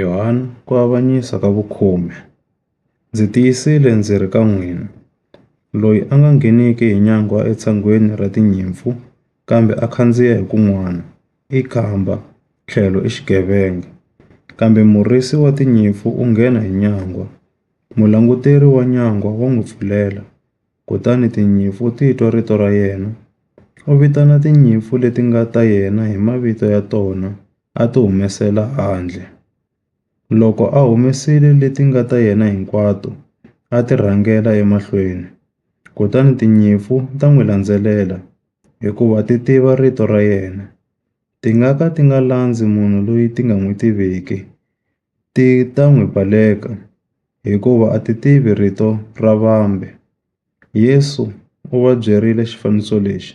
Yohana, ku avanyisa ka vukhume. Ndzi tiyisile ndzi ri ka n'wina, loyi a nga ngheniki hi nyangwa etshangweni ra tinyimpfu kambe a khandziya hi kun'wana, i khamba, tlhelo i xigevenga. Kambe murisi wa tinyimpfu u nghena hi nyangwa, mulanguteri wa nyangwa wa n'wi pfulela. Kutani tinyimpfu ti twa rito ra yena. U vitana tinyimpfu leti nga ta yena hi mavito ya tona a ti humesela handle. Loko a humesile leti nga ta yena hinkwato, a ti rhangela emahlweni. Kutani tinyimpfu ta n'wi landzelela hikuva ti tiva rito ra yena. Ti nga ka ti nga landzi munhu loyi ti nga n'wi tiviki, Ti ta n'wi baleka, hikuva a ti tivi rito ra vambe. Yesu u va byerile xifaniso lexi,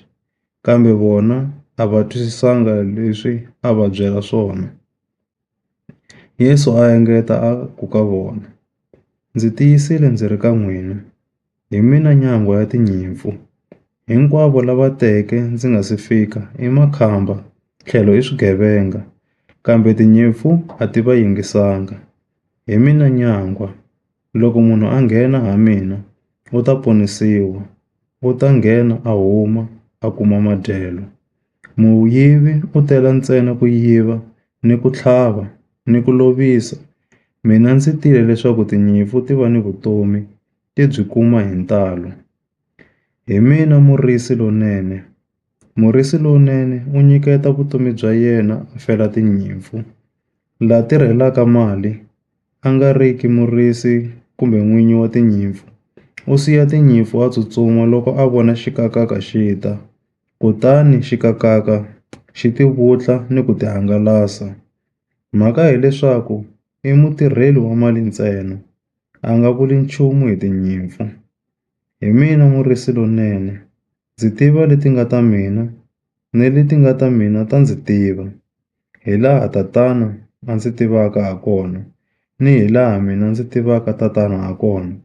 kambe vona a va twisisanga leswi a va byela swona. Yesu a engeta a ku ka vona, Ndzi tiyisile ndzi ri ka n'wina, Hi mina nyangwa ya tinyimpfu, hinkwavo lava teke ndzi nga si fika i makhamba tlhelo i swigevenga, kambe tinyimpfu a ti va yingisanga. Hi mina nyangwa, loko munhu a nghena ha mina u ta ponisiwa, u ta nghena a huma a kuma madyelo. Muyivi u tela ntsena ku yiva ni ku tlhava ni ku lovisa, mina ndzi tile leswaku tinyimpfu ti va ni vutomi. ti byi kuma hi ntalo. Hi mina murisi lonene. Murisi lonene u nyiketa vutomi bya yena a fela tinyimpfu. La tirhelaka mali a nga ri ki murisi kumbe n'winyi wa tinyimpfu u siya tinyimpfu a tsutsuma loko a vona xikakaka xi ta, kutani xikakaka xi ti vutla ni ku ti hangalasa. Mhaka hileswaku i mutirheli wa mali ntsena. a nga vuli nchumu hi tinyimpfu. Hi mina murisi lonene, ndzi tiva leti nga ta mina, ni leti nga ta mina ta ndzi tiva, hi laha Tatana a ndzi tivaka ha kona, ni hi laha mina ndzi tivaka Tatana ha kona.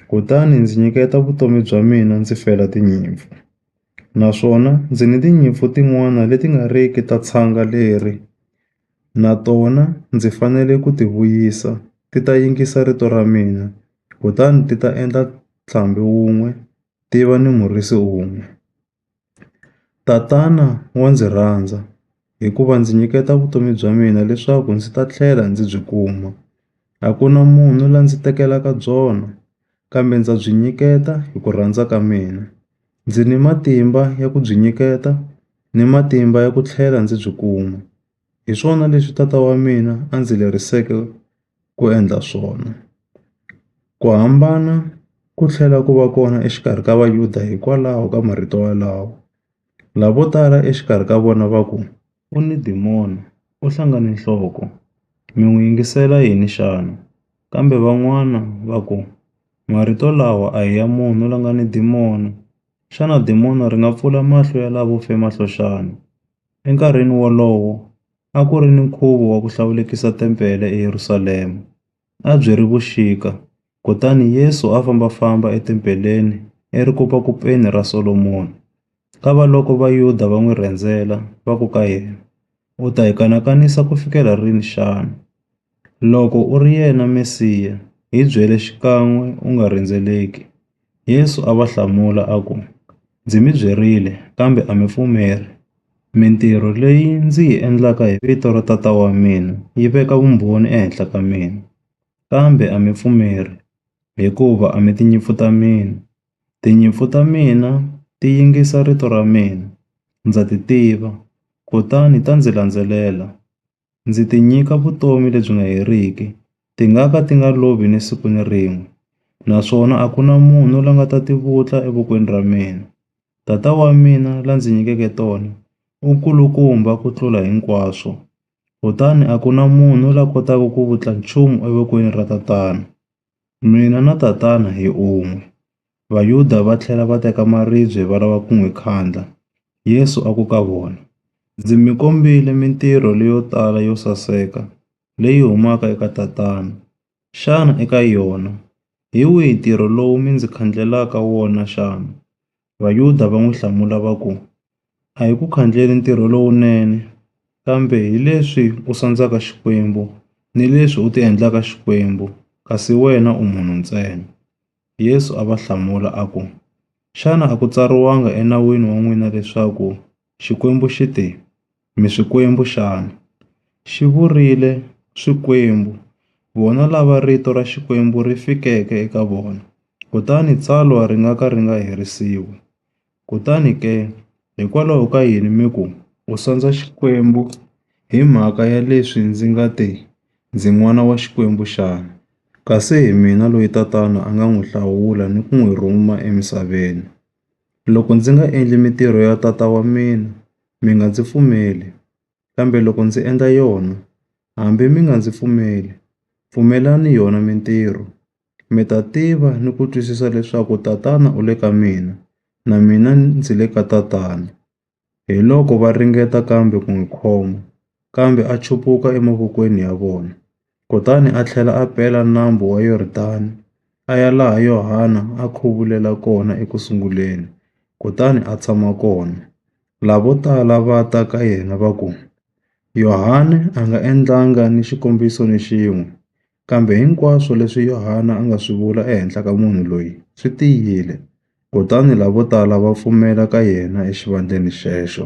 Kutani ndzi nyiketa vutomi bya mina ndzi fela tinyimpfu. Naswona ndzi ni tinyimpfu tin'wana leti nga riki ta tshanga leri. Na tona ndzi fanele ku ti vuyisa, ti ta yingisa rito ra mina, kutani ti ta endla ntlhambi wun'we, ti va ni murisi un'we. Tatana wa ndzi rhandza, hikuva ndzi nyiketa vutomi bya mina leswaku ndzi ta tlhela ndzi byi kuma. A ku na munhu la ndzi tekelaka byona, kambe ndza byi nyiketa hi ku rhandza ka mina. Ndzi ni matimba ya ku byi nyiketa. ni matimba ya ku tlhela ndzi byi kuma. Hi swona leswi tata wa mina a ndzi leriseke ku endla swona. Ku hambana ku tlhela ku va kona exikarhi ka Vayuda hikwalaho ka marito walawo. Lavo tala exikarhi ka vona va ku, U ni dimoya, u hlangane nhloko. Mi n'wi yingisela yini xana? Kambe van'wana va ku, Marito lawa a hi ya munhu la nga ni dimoya. Xana dimono ri nga pfula mahlo ya lavo fema hlo xana? Enkarhini wolowo, a ku ri ni nkhuvo wa ku hlawulekisa tempele eYerusalema. A byi ri vuxika, kutani Yesu a famba-famba etempeleni eRikopakopeni ra Solomoni. Kavaloko Vayuda va n'wi rhendzela, va ku ka yena, U ta hi kanakanisa ku fikela rini xana? Loko u ri yena Mesiya, hi byele xikan'we u nga rhendzeleki. Yesu a va hlamula a ku, Ndzi mi byerile, kambe a mi pfumeli. Mintirho leyi ndzi yi endlaka hi vito ra Tata wa mina yi veka vumbhoni ehenhla ka mina, kambe a mi pfumeli, hikuva a mi tinyimpfu ta mina. Tinyimpfu ta mina ti yingisa rito ra mina, ndza ti tiva, kutani ta ndzi landzelela. Ndzi ti nyika vutomi lebyi nga heriki, ti nga ka ti nga lovi ni siku ni rin'we, naswona a ku na munhu la nga ta ti vutla evokweni ra mina. Tata wa mina la ndzi nyikeke tona u nkulukumba ku tlula hinkwaswo, kutani a ku na munhu la kotaka ku vutla nchumu evokweni ra Tatana. Mina na tatana hi un'we. Vayuda va tlhela va teka maribye va lava ku n'wi kandlha. Yesu a ku ka vona, Ndzi mi kombile mintirho leyo tala yo saseka leyi humaka eka Tatana. Xana eka yona hi wihi ntirho lowu mi ndzi khandlhelaka wona xana? Vayuda va n'wi hlamula va ku, A hi ku khandleni ntirho lowunene, kambe hi leswi u sandzaka Xikwembu ni leswi u ti endlaka Xikwembu, kasi wena u munhu ntsena. Yesu a va hlamula a ku, Xana a ku tsariwanga eNawini wa n'wina leswaku, Xikwembu xi te, Mi swikwembu xana? Xi vurile swikwembu, vona lava rito ra Xikwembu ri fikeke eka vona, kutani tsalwa ri nga ka ri nga herisiwi. Kutani ke, hikwalaho ka yini mi ku, U sandza Xikwembu hi mhaka ya leswi ndzi nga te, Ndzi n'wana wa Xikwembu xana? Kasi hi mina loyi Tatana a nga n'wi hlawula ni ku n'wi rhuma emisaveni. Loko ndzi nga endli mitirho ya tata wa mina, mi nga ndzi pfumeli. Kambe loko ndzi endla yona, hambi mi nga ndzi pfumeli, pfumelani yona mitirho. Mi ta tiva ni ku twisisa leswaku Tatana u le ka mina, na mina ndzi le ka Tatana.” Hiloko va ringeta kambe ku n'wi khoma, kambe a chupuka emavokweni ya vona. Kutani a tlhela a pela Nambu wa Yordani a ya laha Yohana a khuvulele kona eku sunguleni, kutani a tshama kona. Lavo tala va ta ka yena va ku, Yohana a nga endlanga ni xikombiso ni xin'we. Kambe hinkwaswo leswi Yohana a nga swi vula ehenhla ka munhu loyi swi tiyile, kutani lavotala va pfumela ka yena exivandleni xexo.